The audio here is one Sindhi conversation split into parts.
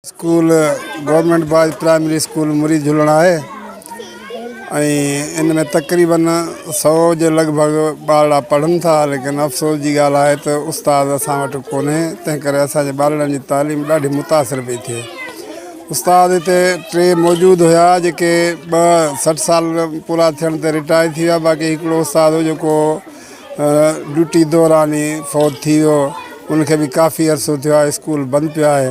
School government boys primary school مري جهلڻ آهي ۽ ان ۾ تقريبن سؤ جي لڳ ڀڳ ٻارڙا پڙهن ٿا ليڪن افسوس جي ڳالهه آهي ته استاد اسان وٽ ڪونهي تنهن ڪري اسان جي ٻارڙن جي تعليم ڏاڍي متاثر پئي ٿئي استاد هتي ٽي موجود هيا جيڪي ٻه سٺ سال پورا ٿيڻ تي رٽائر ٿي ويا باقي هڪڙو استاد هو جيڪو ڊيوٽي دوران ئي فوت ٿي ويو ان کي به ڪافي عرصو ٿيو آهي اسڪول بند پيو آهي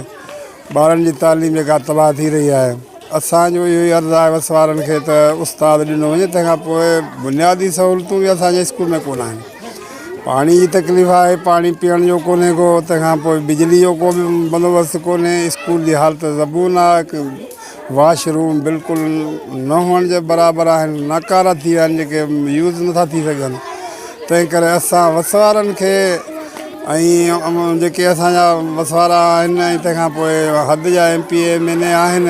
ٻارن جي تعليم جيڪا تباهه ٿي رهي آهي اسان جو اهو ئي عرض آهي وس وارن کي ته استاد ڏنو وڃي تنهن کان پوء بنيادي سهولتون به اسان جي اسڪول ۾ ڪونه آهن پاڻي جي تڪليف آهي پاڻي پيئڻ جو ڪونهي ڪو تنهن کان پوء بجلي جو ڪو به بندوبست ڪونهي اسڪول جي حالت زبون آهي واش روم بلڪل نه هئڻ جي برابر آهن، ناڪارا ٿي ويا آهن جيڪي يوز نٿا ٿي سگهن تنهن ڪري اسان وسوارن کي ۽ جيڪي اسان جا وسوارا آهن ۽ تنهن کان پوء حد جا M P M N A آهن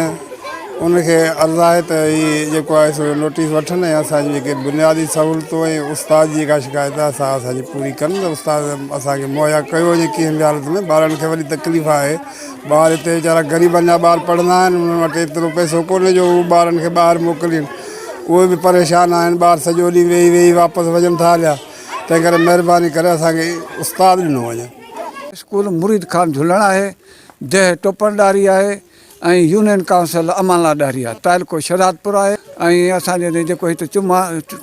ان کي عرض آهي ته هي جيڪو آهي سو نوٽيس وٺن ۽ اسان جي جيڪي بنيادي سهولتون ۽ استاد جي جيڪا شڪايت آهي سا اسان جي پوري ڪن استاد اسان کي مهيا ڪيو وڃي ڪنهن به حالت ۾ ٻارن کي وڏي تڪليف آهي ٻار هتي ويچارا غريبن جا ٻار پڙهندا آهن انهن وٽ ايترو پئسو ڪونهي جو هو ٻارن کي ٻاهر موڪلين اهي به پريشان آهن ٻار سڄو ڏينهن ويهي ويهي واپس وڃن ٿا هليا تنهن ڪري مهرباني ڪري اسان کي استاد ڏنو وڃي. اسڪول مريد خان جهلڻ آهي، ديهه ٽوپڻ ڏاهري آهي ۽ يونين ڪائونسل امان لا ڏاهري آهي، تعلقو شهدادپور آهي ۽ اسان جي جيڪو هت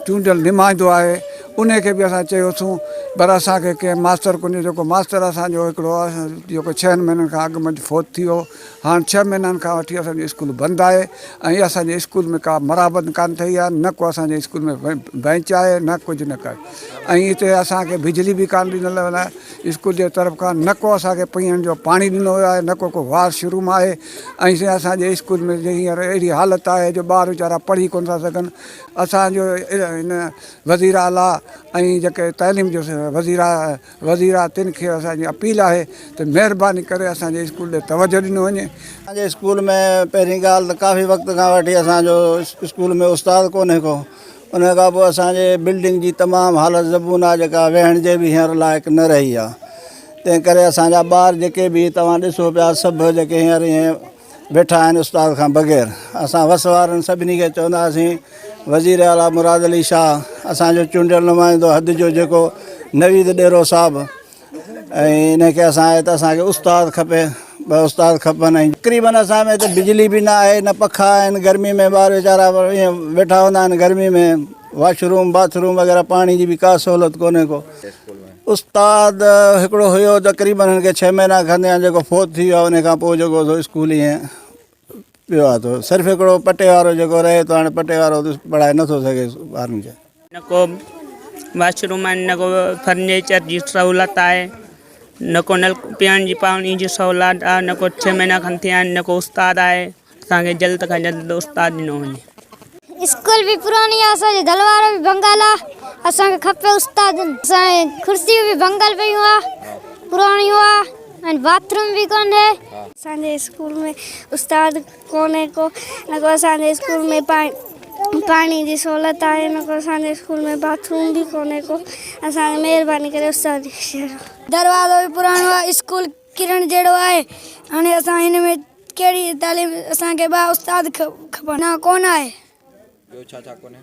چونڊيل نمائندو آهي انهي کي به اسان چيو اٿون پر اسان کي ڪنهن ماستر ڪونهي جيڪو ماستر اسان جو هڪڙو هو جيڪو ڇهن مهينن کان اڳ منجهه فوت ٿي ويو هاڻ ڇهه مهينن کان وٺي اسان جو اسڪول بند آهي ۽ اسان جي اسڪول ۾ ڪا مرابت ڪانه ٿئي آهي نه ڪو اسان جي اسڪول ۾ بئنچ آهي نه ڪجهه نه ڪجهه ۽ هتي اسان کي بجلي به ڪانه ڏنل ويل آهي اسڪول جي طرف کان نه ڪو اسان کي پيئڻ جو پاڻي ڏنو ويو آهي نه ڪو ڪو واش روم آهي ۽ سائين اسان جي اسڪول ۾ هينئر اهڙي حالت آهي جو ٻار ويچارا پڙهي ڪونه ٿا سگهن اسان جو هن وزير اعلٰي ۽ جيڪي تعليم جو وزير وزير آهي تن کي اسان جي اپيل آهي ته مهرباني ڪري اسان جي اسڪول ڏي توجه ڏنو وڃي. اسان جي اسڪول ۾ پهرين ڳالهه ته ڪافي وقت کان وٺي اسان جو اسڪول ۾ استاد ڪونهي ڪو ان کان پوء اسان جي بلڊنگ جي تمام حالت زبون آهي جيڪا ويهڻ جي به هينئر لائق نه رهي آهي تنهن ڪري اسان جا ٻار جيڪي به توهان ڏسو پيا سڀ جيڪي هينئر ائين ويٺا آهن استاد کان بغير اسان وس وارن سڀني کي چونداسين وزير اعليٰ مراد علي شاهه اسان جو چونڊيل نمائندو حد جو جيڪو نويد ڏيرو صاحب ۽ ان کي اسان آئي ته اسان کي استاد کپي ٻه استاد کپن ۽ تقريبن اسان ۾ ته بجلي به نه آهي نه پکا آهن گرمي ۾ ٻار ويچارا ائين ويٺا هوندا آهن گرمي ۾ واش روم باٿ روم وغيره پاڻي جي به ڪا سهولت ڪونهي ڪو استاد هڪڙو هيو تقريبن هن کي ڇهه مهينا کن ٿيا آهن جيڪو فوت ٿي ويو آهي ان کان پوء جيڪو سو اسڪول ائين پيو آهي ٿو صرف هڪڙو پٽي وارو جيڪو رهي ٿو هاڻي پٽي وارو ته پڙهائي نٿو سگهي ٻارن کي. نه ڪو واش روم آهن نه ڪو فرنيچر جي سهولت آهي نه ڪو نل پيئڻ جي پاڻي جي سهولت آهي نه ڪو ڇهه مهينا کن ٿيا آهن نه ڪو استاد آهي اسان کي جلد کان جلد استاد ڏنو وڃي. اسڪول به پراڻي آ اسان جي دل وارو به ڀنگل آ اسان کي کپي استاد اسان جي ڪرسيون به ڀنگل پيون آ پراڻيون آ ۽ باٿ روم به ڪونهي. اسان جي اسڪول ۾ استاد ڪونهي ڪو نه ڪو اسان جي اسڪول ۾ پاڻي جي سهولت آهي نه ڪو اسان جي اسڪول ۾ باٿ روم به ڪونهي ڪو اسان کي مهرباني ڪري استاد ڏيکاريو. دروازو به پراڻو آ اسڪول. ڪرڻ جهڙو آهي. هاڻي اسان هن ۾ ڪهڙي تعليم اسان کي ٻه استاد کپن. نه ڪونه آهي. ٻيو ڇا ڇا ڪونهي.